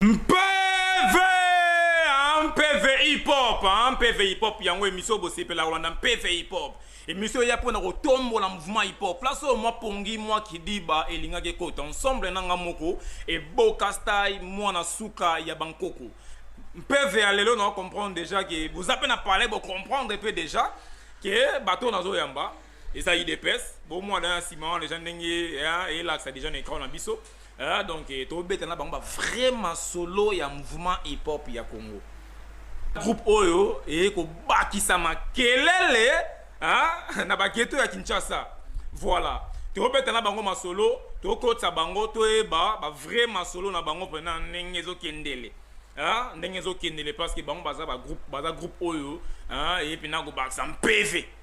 mpeve ah, mpeve hip-hop ah, mpeve hip-hop yango emisio bosepela kolanda mpeve hip-hop emisio eya mpo na kotombola mouvement hip-hop place oyo mwa pongi mwa kidiba elingaki ekota ensemble na nga moko eboka style mwana suka ya bankoko mpeve ya lelo na comprendre déjà ke boza mpe na palais bocomprendre mpe déjà ke bato oyo nazoyamba eza idps bomwana ya nsima wana deja ndenge elakisa deja na ekran na biso Ah, donc eh, tobeta na bango ba vrai masolo ya mouvement hip hop ya Congo. Groupe oyo eye kobakisa makelele ah, na bageto ya Kinshasa. Voilà. Tobeta na bango masolo, tokotisa bango toyeba ba vrai masolo na bango pena ndenge ezokendele. Ah, ndenge ezokendele parce que bango baza ba groupe, baza groupe oyo ah, eye pena kobakisa mpeve.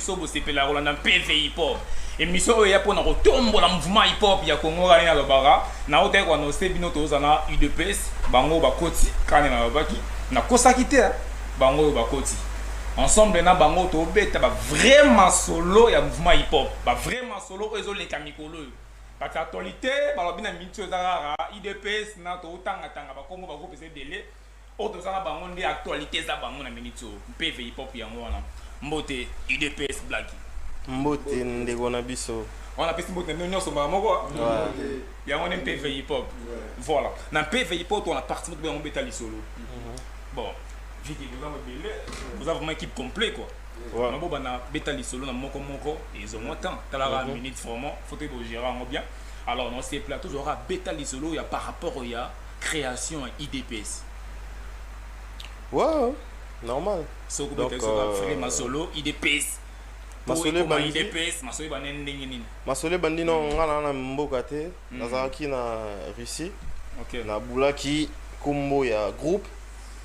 so bosepela kolanda mpv hip-hop emission oyo eya mpona kotombola mouvement hip-hop ya congo kani nalobaka naotaki koanonse bino toza na udps bango oyo bakoti kani nalobaki nakosaki te bango oyo bakoti ensemble na bango tobeta bavrai masolo ya mouvement hip-hop bavrai masolo oyo ezoleka mikolo oyo bato ya actualité balobi na miniti oyo eza kaka udps na totangatanga bakongo bagroupe eza ebele Oyo toza na bango nde actualite eza bango na minute oyo mpe Veyipop yango wana. Mbote udps Blacky. Mbote ndeko na biso. On a pesi mbote nionso mbala moko. Yango nde mpe Veyipop. Voilà. Na mpe Veyipop on a parti moko yango beta lisolo. Mhm. Bon, viki boza mobile, boza vraiment équipe complet quoi. Voilà. Mabo bana beta lisolo na moko moko ils ont moins temps. Talara mhm. minute vraiment, faut que vous gérez bien. Alors, on s'est plateau, j'aurai beta lisolo, il y a par rapport au ya creation ya idps ouais normal soki donc euh... masolo idps masole bandi no nga na na mboka te hmm. nazalaki na russie nabulaki kombo ya groupe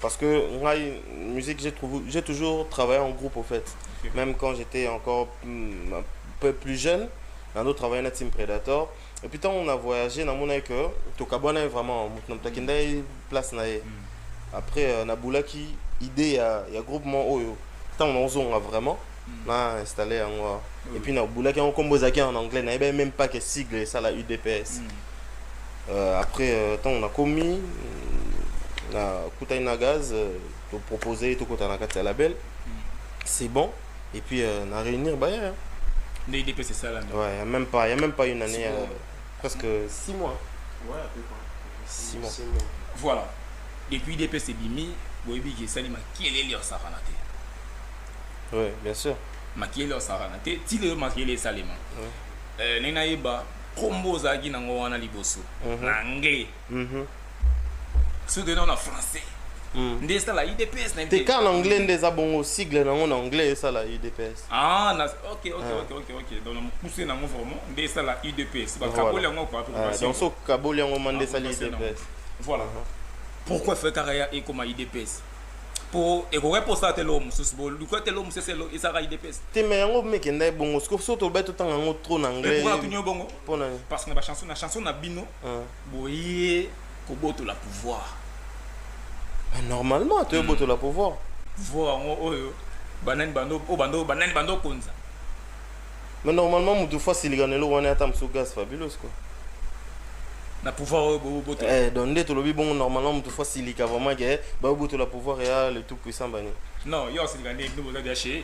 parce que ngai musique j'ai toujours travaillé en groupe au fait même quand j'étais encore hmm, un peu plus jeune nano travaillé na team predator et puis ntango na voyage namonaki ke tokabuanaki vraiment moto na moto akendaki place na ye mm. après euh, nabulaki idée ya, ya groupement oyo ntango nakozonga vraiment mm. na installe yango awa mm. et puis nabulaki yango nkombo ezalaki en anglais nayebaki même pas ke sigle esala udps mm. euh, après euh, ntango euh, nakomi nakutani na gaz euh, topropose tokota na kati ya label mm. c'est bon et puis euh, na réunir baye hein. nde idps esalami ouais, il y a même pas il y a même pas une année euh, presque 6 mois ouais, 6 mois. mois voilà depuis idps ebimi boyebi ke esali makelele osakana te ouais, bien sûr makelele osakana te ti lelo makelele esalema ouais. euh, ndenge nayeba nkombo ozalaki nango wana liboso mhm. na anglais Mhm. Soki toyei na français. Mm. nde esala udps na te kaka na anglais nde eza bongo sigle nango na anglais esala udps ah na ok ok ah. ok ok ok donc na mokuse nango vraiment nde esala udps bakaboli yango kwa ah, donc so kaboli yango ma nde ah, esali udps voilà uh-huh. pourquoi fe kaka ya ekoma udps po ekoki mposa te eloko mosusu boluka te eloko mosusu ezalaka idps te me yango mekenda ye bongo soki so tolobai totanga yango trop na anglais bongo mpo na parce que na bachanson na chanson na bino boye kobotola pouvoir normalement toye botola pouvoir pouvoir yango oyo banani bando oyo bando banani bando konza mais normalement mutu fois silika na eloko wana ata mosusu gas fabulos quoi na pouvoir oyo bobotola eh, donc nde tolobi bongo normalement moto fo asilika vraiment ke babotola pouvoir ya le tout puissant bani non yo asilika nde bino boza bya chez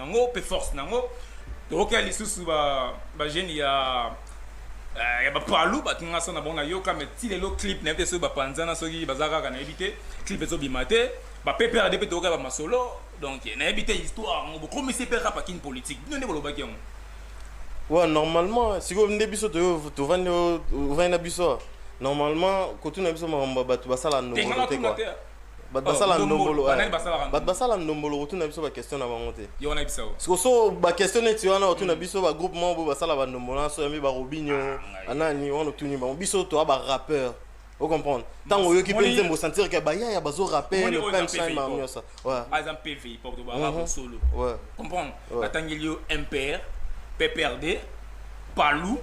nango mpe force nango tokokia lisusu bagene ya eh, ya bapalu bato nga so na bango nayoka me ti lelo clip nayebi te soki bapanzana soki baza kaka nayebi te clip ezobima te bapeprd mpe tokokia bamasolo donc nayebi te histoire yango bokomisi mpe rapa kini politique bino nde bolobaki yango wa normalement sikoyo nde biso tovandi na biso normalement kotuna biso makambo ya bato basala ndomote kua bato oh, basala ndombolo bato basala ndombolo kotuna biso baquestion na bango te siko so baquestion neti wana otuna mm. biso bagroupe moko boye basala bandombolo na so yambi barobinio ah, anani wana otuni bango biso toa barappeur ocomprendre ntango oyoki mpe nzembo osentir ke bayaya bazo rappele punchline bango nyonso aza mpe veipop to barabo mhm. solo comprendre batangeli yo mpr pprd palou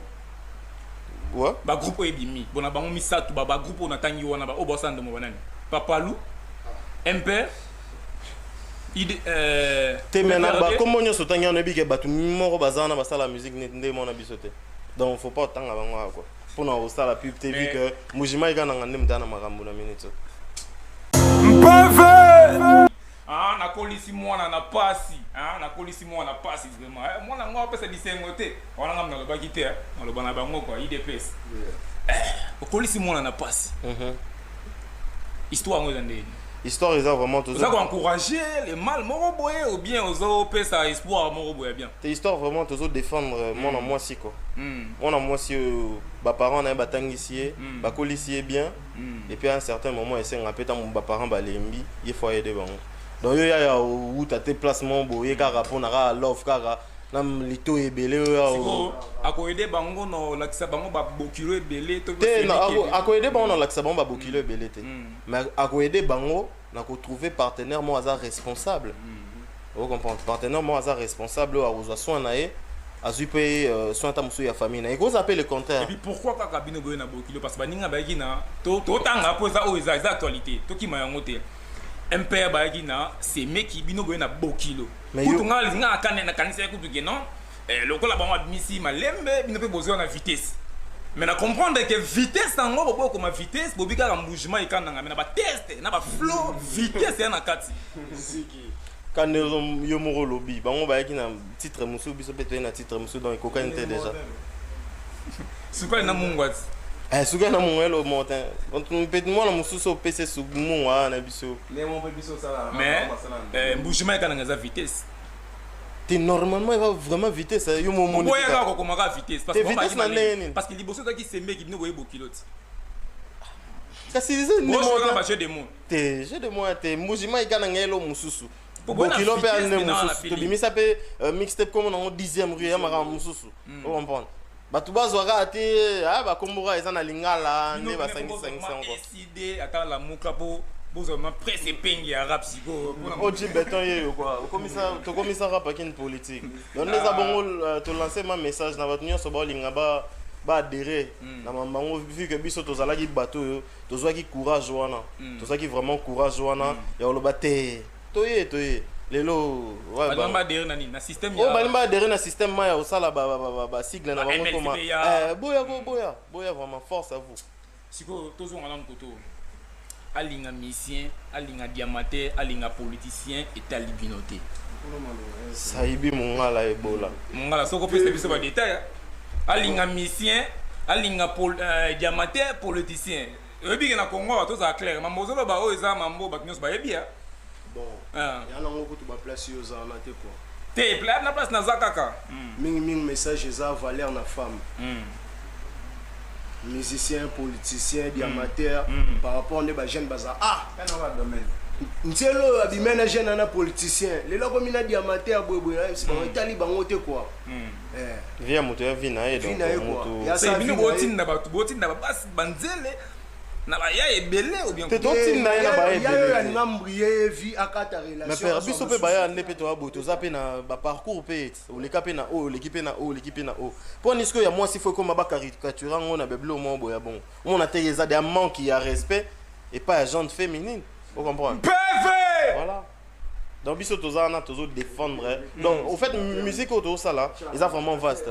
Ouais. Ba groupe oyo ebimi. Bona bango misatu ba ba groupe na tangi wana ba obo sando mo banani. Papalu. Emper. Ide euh te mais na ba kombo nyoso tangi wana ebike batu moko bazana basala musique neti nde mona biso te. Donc faut pas tanga bango quoi. Pona osala pub te vu que Mujima ikana ngande mtana makambo na minute. Mpeve Ah, nakolisi mwana na pasi ah, nakolisi mwana na pasi vraiment eh, mwana yango apesa bisengo te wana ngambo nalobaki te eh, maloba na bango kwa idps eh, okolisi mwana na pasi mm -hmm. histoire yango eza ndeni histoire eza vraiment toza ko encourager les mal moko boye ou bien ozo pesa espoir moko boye bien te histoire vraiment tozo défendre euh, mm. mwana mwasi ko mm. mwana mwasi oyo ba parents na ye batangisi ye mm. bakolisi ye bien mm. et puis à un certain moment esenga mpe ntango baparent balembi ye fo ayede bango donc yo yaya owuta te place moko boye kaka mpo na kaka love kaka na lito ebele oyo akoyede bango na olakisa bango babokilo ebele te akoyede bango na olakisa bango babokilo ebele te mais akoyede bango na ko trouver partenaire moko aza responsable mm -hmm. o comprendre partenaire moko aza responsable oyo akozwa soin na ye azwi mpe euh, soin ata mosusu ya famille na ye ekozala mpe le contraire epuis pourquoi kaka bino boye na bokilo parce baninga bayaki na totanga mpo eza oyo eza eza actualité tokima yango te mpr bayaki na semeki bino boye na bokilo kutu ngai nakanisa ye kutu ke non Eh, lokola bango abimisi malembe bino mpe bozwa na vitesse me na comprendre ke vitesse yango boboyi koma vitesse bobi kaka mbugement ekandanga me na bateste na baflo vitesse ya na kati kande yo moko olobi bango bayaki na titre mosusu biso mpe toyei na titre mosusu donc ekokani te déjà sukali na mungwati eh, sukali na mungwa elo motin mpe mwana mosusu opese mungwa na biso mais eh, mbugement ekananga eza vitesse te normalement eza vraiment vitesse yo momoni boya kaka kokoma kaka vitesse parce que vitesse na ndenge nini parce que liboso ezalaki semeki bino boye bokilo ti kasi eza ndimona ba jeu de mots te jeu de mots te mbuji mai kana ngelo mususu bokilo mpe ane mosusu tobimisa mpe euh, mixtape komo nango 10e rue ya makambo mosusu hmm. ocomprendre bato bazwaka te ah, bakomboka eza na lingala nde basangisangisa yango Side ata lamuka po bozwa ma presse epengi ya rap sikoyo mpona mo- oji beton ye yo kua okomisa tokomisa rap akini politique donc nde eza bongo euh, tolancer ma message na bato nyonso baolinga ba baadere na mambo yango vu que biso tozalaki bato oyo tozwaki courage wana tozwaki vraiment courage wana ya koloba te toye toye lelo ouais, balinga ba- badere na nini na système oyo balingi baadere na système ma ya kosala basigle na Ba bango MLC toma ya- Eh, boya ko boya boya vraiment force à vous sikoyo tozonga nanu koto alinga misien alinga diamate alinga politicien etali bino te sayibi mongala ebola mongala soki opesa biso badetail alinga misien alinga pol, uh, diamate politicien oyebi ke na congo tozala claire mambo ozoloba oyo eza mambo bato nyonso bayebi ya bon ah. ya nango kutu baplace yo ozala na te kua te playa na place naza kaka hmm. mingimingi message eza valeur na femme hmm. musicien politicien diamateur hmm. par rapport nde bajeune baza ah nzela oyo abima na jeune ana politicien lelo akomi na diamateur boyeboye nayebisi bango etali bango te kua eh. vi ya moto ya vi na ye bino botinda bato botinda babasi banzele na ba ya ebele ou bien te to tinda ye na ba ebele ya yo ya ngambu ye vie akata relation mais père biso pe baya ne pe to abo to za pe na ba parcours pe o leka pe na o leki pe na o leki pe na o po ni ce ya moi si faut comme ba caricature ngo na beblo mo boya bon on a teye za de manque ya respect et pas à gente féminine vous comprenez PV voilà donc biso toza na tozo défendre donc au fait musique auto ça là ils a vraiment vaste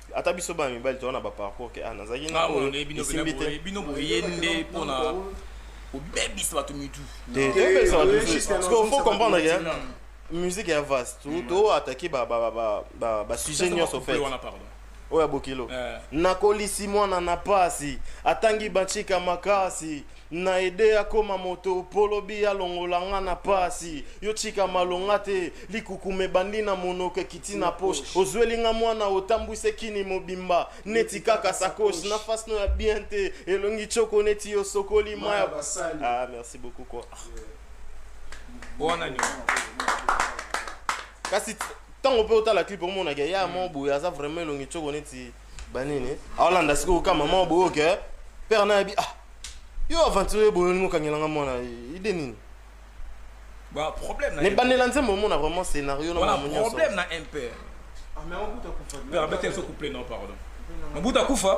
ata biso bana mibali toza na baparcours ke ah nazalaki na oyo esimbi te bino boye nde mpona kobebisa bato mitu tobebisa bato mitu parce que faut comprendre ke musique ya vaste to attaquer ba ba ba ba ba sujet nyonso fait oyo ya bokilo eh. nakolisi mwana na pasi atangi bachika makasi Na ede akoma moto po lobi alongola nga na pasi Yo tika malonga te likukuma ebandi na monoko ekiti na poche Ozweli nga mwana otambwisi ekini mobimba neti kaka sacoche Na face no ya bien te elongi tshoko neti osokoli mayi ya basali Ah merci beaucoup quoi Buona night. Kasi tango pe otala clip omonake ya mo boye aza vraiment elongi tshoko neti banini aolanda sikoyo ka mama boye oke eh? père na yebi ah yo aventurier boye olingi okangela nga mwana ide nini nebandela nzembo omona vraiment scénario naproblème na impere ah, mabuta kufa non pardon mabuta kufa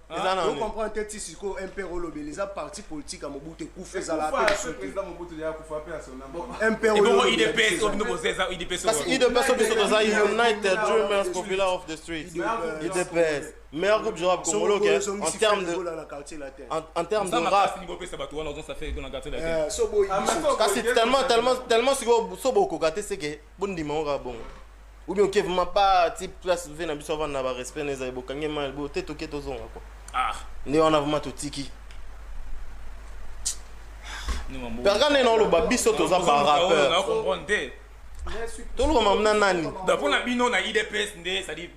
Ah, on comprend te ti sikoyo mpr olobeli eza parti politique ya mobutu ekufa ezala mpe lisutuidps biso toza united dreamers popular of the street idps meilleur groupe du rap congolais okay, en termes de en, en termes de rap kasi tellement tellement tellement sikoyo so bokoka te seke bondima ngo kaka bongo ou bien oke vraiment ba ti place ve na biso avanda na barespect na ezali bokangi mai bo te toke tozonga kua ah. nde wana vraiment totiki perga nde naoloba biso toza barapeur tolukama na nani mpo na bino na idps nde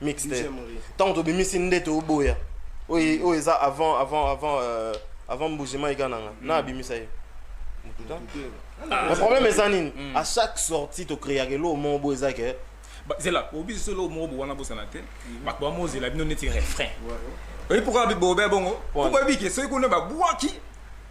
mix te ntango tobimisi nde toboya oyo oyo eza avant avant avant euh, avant mbujima eka na nga mm. na abimisa ye problème eza nini mm. à chaque sortie tokreaka eloko moko boyo eza ke zela obi biso eloko moko bowana bosana te mm. bato bamozela bino neti refrain oyebi pourkoi bobe bongo oboyebi ke soki kuna babwaki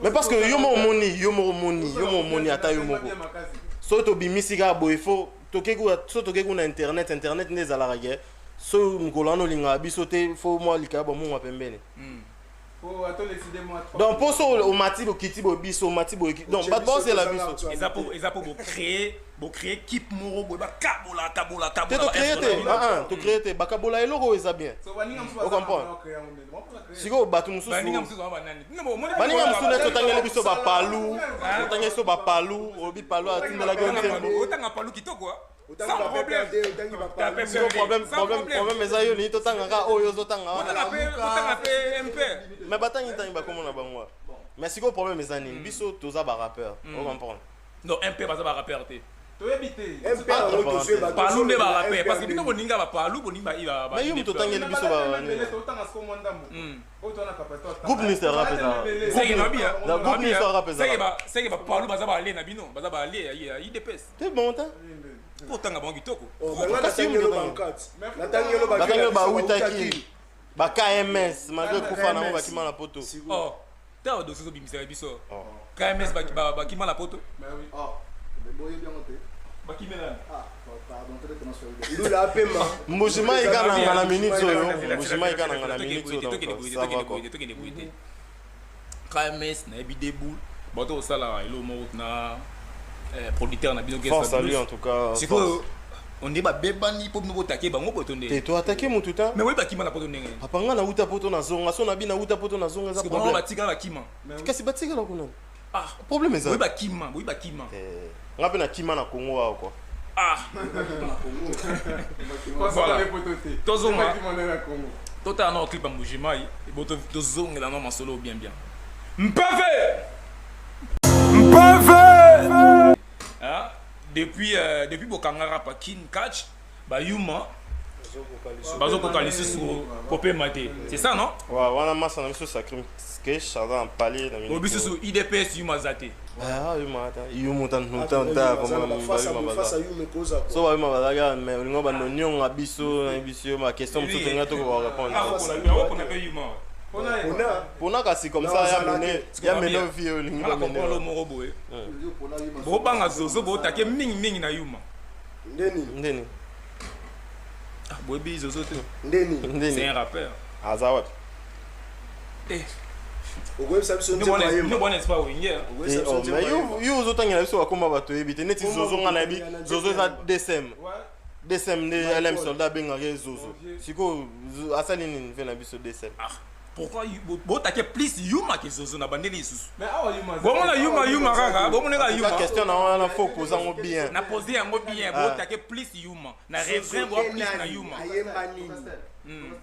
mais parce que yo moko omoni yo moko omoni yo moko omoni ata yo moko soki tobimisi kaka boye fo soki tokei kuna internet internet nde ezalaka ke so mokolo wana olingaka biso te fo mwa likaya bwa mongwa pembeni hmm. oh, donc mpo so omati bokiti boye biso omati boye donc bato baosela biso eza mpo bocree bocree kipe moko boye bakabola kabola kabola te tocree te ah, ah, tocree te bakabola eloko oyo eza bien ocomprendre sikoyo bato mosusubaninga mosusu nyonso otangeli biso bapalu otangeli biso bapalu olobi palu atindelaki yo nzembo problème eza yo nini totanga kaka oyo ozotanga mais batangi ntangi bakoma na bango mais sikoyo problème eza nini biso toza barapeur o comprendre Non, MP baza ba rappeur te. toyebi te palu nde barape parce que bino boninga bapalu bonima mais yo moto otangeli biso groupe minister rap ezaseke bapalu baza balie na bino baza balie ya idps te bon te otanga bango kitoko natangelo bawutaki ba kms malgre kufa nango bakima na poto oh, ntango badosi ozobimisaka biso oh. kms bakima na poto oh. ah, mbujimai kananga na minute oyo mbujimai kananga na minute oyo KMS na yebi debout bato kosala elo moko na eh, producteur na bino Force à lui en tout cas. Sikoyo on est babebani po bino botake bango poto nde. Te to attaquer mutu ta. Mais oui bakima na poto ndenge. Papa nga na uta poto na zonga so na bi na uta poto na zonga za problème. Parce que bango batika na kima. Kasi batika na kuna. ah problème eza oui ba kima oui ba kima eh nga pe na kima na Congo wa quoi ah voilà tozo ma totala na clip ya mbujimayi ebo tozongela na masolo bien bien mpeve mpeve depuis, euh, depuis Bokangara, pas Kin Catch, ba yuma bazo koka lisusu kopema te c'est ça non wa wana masa na biso sacrim kesh aza na pale na minute bisusu idps yuma za te ah yuma ta yuma ta no ta ta vraiment ba yuma ba fasa yuma koza so ba yuma ba ga mais olingo ba no nyonga biso na biso ma question mosusu tenga to ko répondre ah ko na ko na pe yuma pona kasi comme ça ya mene ya mene vie olingi ba mene moko boye bobanga zozo botake mingi mingi na yuma nde nini nde nini ah, boyebi zozo te nde nini nde nini c'est un rappeur aza wapi eh okoyebisa biso yo ozotangela biso bakoma bato oyebi te neti zozo nga nayebi zozo eza dsm dsm nde alem soldat abengaka ye zozo sikoyo asali nini mpe na biso dsm ah. pourquoi botake plus yuma ke zozo na bandeli lisusu bomona yuma yuma kaka bomona kaka yuma question na wana faut poser yango bien na poser yango bien ah. botake plus yuma na refrain bo plus na yuma ayemba nini hmm.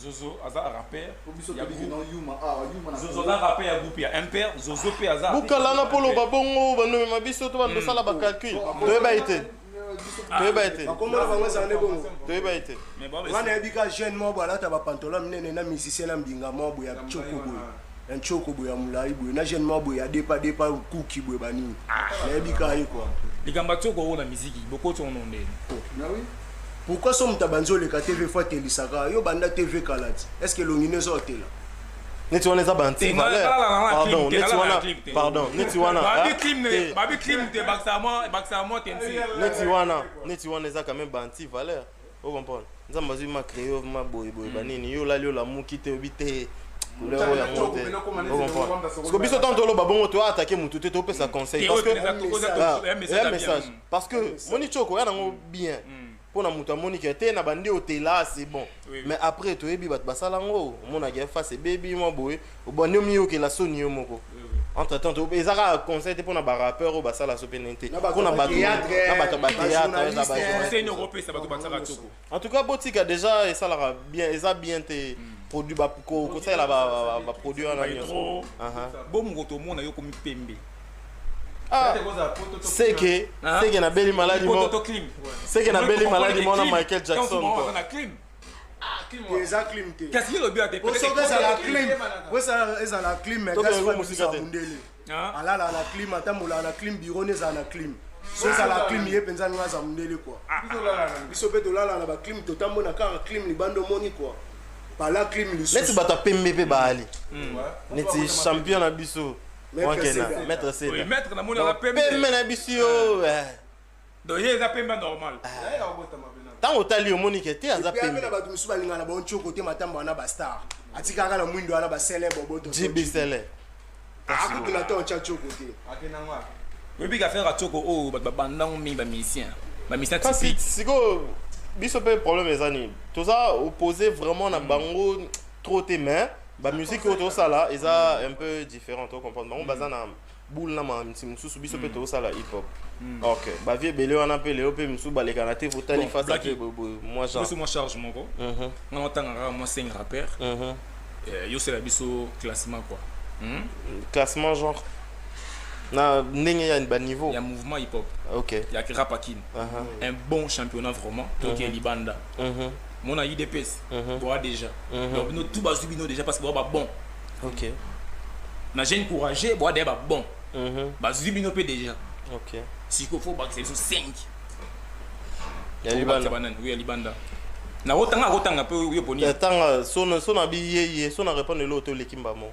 zozo aza rapper zozo aza rapper ya groupe ya impère zozo mpe aza bukalana mpo loba bongo bandomema biso to bandosala bacalcul toyeba ye te toyeba ete bakombo na bango ezala nde bongo toyeba ete wana yebi ka jeune moko alata bapantola minene na musicien na mbinga moko boye ya coko boye ya ncoko boye ya molai boye na jeune moko boye ya depa depa kuki boye banini ah. nayebi ka ye kua likambo ya coko oyo na miziki bokoti ono ndeni pourquoi so moto abanzi oleka tv fo atelisaka yo banda tv kala ti est ce que elongi nde ezo otela neti wana eza banti valeur neti wana pardon neti wana neti wana neti wana eza quand même banti valeur o comprendre nzambe azwi ma creo ma boyeboye banini yo olali olamuki te obi te couleur oyo yango te okomprendre biso ntango toloba bongo toatake motu te topesa conseil parce que message parce que moni coko ya nango bien mpo na moto amoni ke te na bandi otela ah, c'est bon oui, oui. mais après toyebi bato basala yango omonaka ya face ebebi mwa boye obandi omiyokela soni yo moko oui, oui. entre temps eza kaka conseil te mpo na barappeur oyo basala so pene te mpo na bato ya bateatreopesa bato basaka toko en tout cas botika déjà esalaka bien eza bien te mm. produit kosalela baproduit wana nyonso bomokotomona yo komi pembe Ah. c'est que hein? c'est que na beli maladie mo c'est que na beli maladie mona Michael Jackson quoi eza clim te kasi elobi ya teosoko ezala clim ezala clim gasisa mundele alala na clim atambolaka na clim biro ne ezala na clim so ezala clim ye mpenza ninga aza mundele kua biso mpe tolala na baclim totambona kaka clim libanda omoni kua pala clim lisusu neti bato ya pembe mpe baali neti champion na biso maître sena oui maître na moni aza pembe pembe na biso yo donc ye eza pembe normal ntango otali omoni ke te aza pembe na bato mosusu balingaka na bonco kote matamba wana bastar atikaka na mwindo wana basele boboto jibisele akutuna ntango tya coko te oyebi ka faire coko oyo bato babandango mingi bamusicien bamusicien kasi sikoyo biso mpe problème eza nini toza oppose vraiment na bango trop te mais ba musique oyo tosala eza un peu différent to comprendre bango baza na boule na mamisi mosusu biso mpe mm. tosala hip hop mm. ok bavie ebele wana mpe lelo mpe mosusu balekana te fotali face mpe mwa genre mwa charge moko mhm. nga natanga kaka mwa seng rappeur mhm. eh, yosela biso classement quoi hmm? classement genre na ndenge ya baniveau ya mouvement hip hop ok ya rap akin uh-huh. un bon championnat vraiment toke mhm. libanda mon a idps mhm. boa déjà mhm. donc bino tout bazwi bino déjà parce que boa ba bon ok na jeune courageux boa déjà ba bon mhm. bazwi bino mpe déjà ok siko fo bakisa biso 5 ya libanda banani oui ya libanda nakotanga akotanga mpe yo poni tanga sona sona biyeye sona répondre eloo to oleki mbamo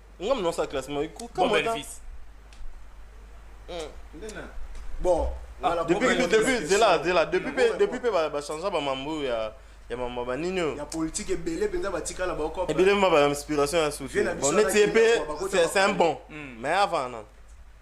nga mna sa classe ma ko kama ta bon ah, depuis depuis zela zela depuis pe depuis pe ba ba changer ba mambo ya ya mama ba nini oyo ya politique ebele mpenza batikala baoko ebele ma ba inspiration ya suki bon neti ye mpe c'est un bon hmm. mais avant non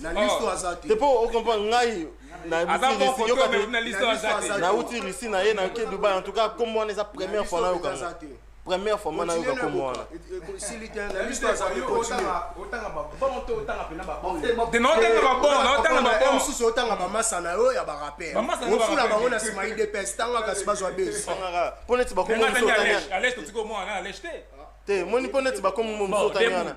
na listo aza te po o comprendre ngai nauti russie na ye nake dubai en tout cas kombo wana eza première fois nayoka première fois mwana yoka kombo wana mosusu otanga bamasa na yo ya baraperofula bango na nsima idps tanga kasi bazwa bes mpo neti bakomo te moni mpo neti bakomo mosusu otani wana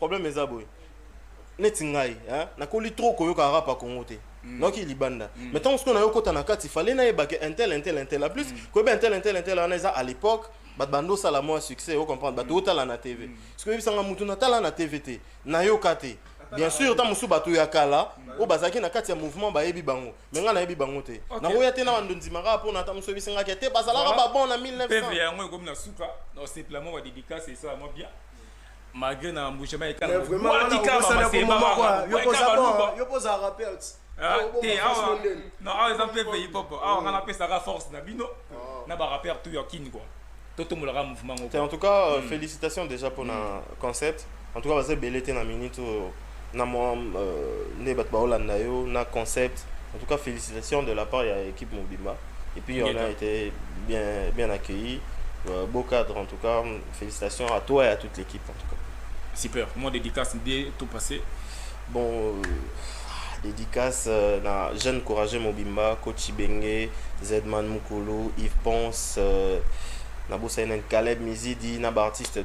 problème eza boye neti ngai hein? nakoli trop koyoka rap ya congo te mm. nayoki libanda mm. mais ntango sikoyo nayokota na kati fale nayebake intel intel intel a plus mm. koyeba intel intel intel wana eza à l'époque bato bando osala mwa succès ocomprendre bato otala na tv soki oyebisanga motu natala na tv te nayoka te bien sûr ntango mosusu bato ya kala oyo bazalaki na kati ya mouvement bayebi bango me ngai nayebi bango te nakoya te na bando ndimaka mpo na ntango mosusu oyebisangaki te bazalaka babon na 1900 yango ekomi na suka na seplamoko ya dédicace esalamwa bien malgré na mbusha mai kala mais vraiment wana okosana ko mama kwa yo poza bon yo poza rappeur ah, te awa non awa eza mpe pays pop awa nga napesaka force na bino ah. na ba rappeur tout ya kin quoi totombolaka mouvement ngo en tout cas euh, hmm. félicitations déjà mpona hmm. concept en tout cas baza ebele te na minute oyo na mwa euh, nde bato baolanda yo na concept en tout cas félicitations de la part ya équipe mobimba et puis on a été bien, bien accueilli euh, beau cadre en tout cas félicitations à toi et à toute l'équipe en tout cas super moi dédicace bien tout passé bon euh, dédicace euh, na jeune courageux mobimba coach ibenge zedman mukulu yves ponce euh, nabosani na caleb mizidi na baartiste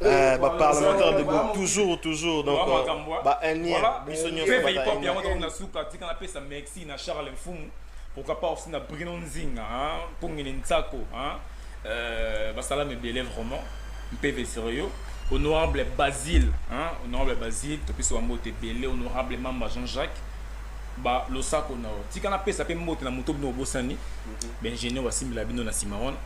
Eh, ba parlementaire debout toujours toujours donc euh, ba indien biso nyonso ba hip hop yango to na suka tika na pesa merci na Charles Mfumu pourquoi pas aussi na Bruno Nzinga hein pongene Nsako hein euh, basala mebele vraiment mpeve sérieux honorable Basile hein honorable Basile to pesa bango te bele honorable Mamba Jean-Jacques ba losako na yo tika na pesa pe mbote na moto bino obosani mhm. ba ingénieur basimbela bino na sima wana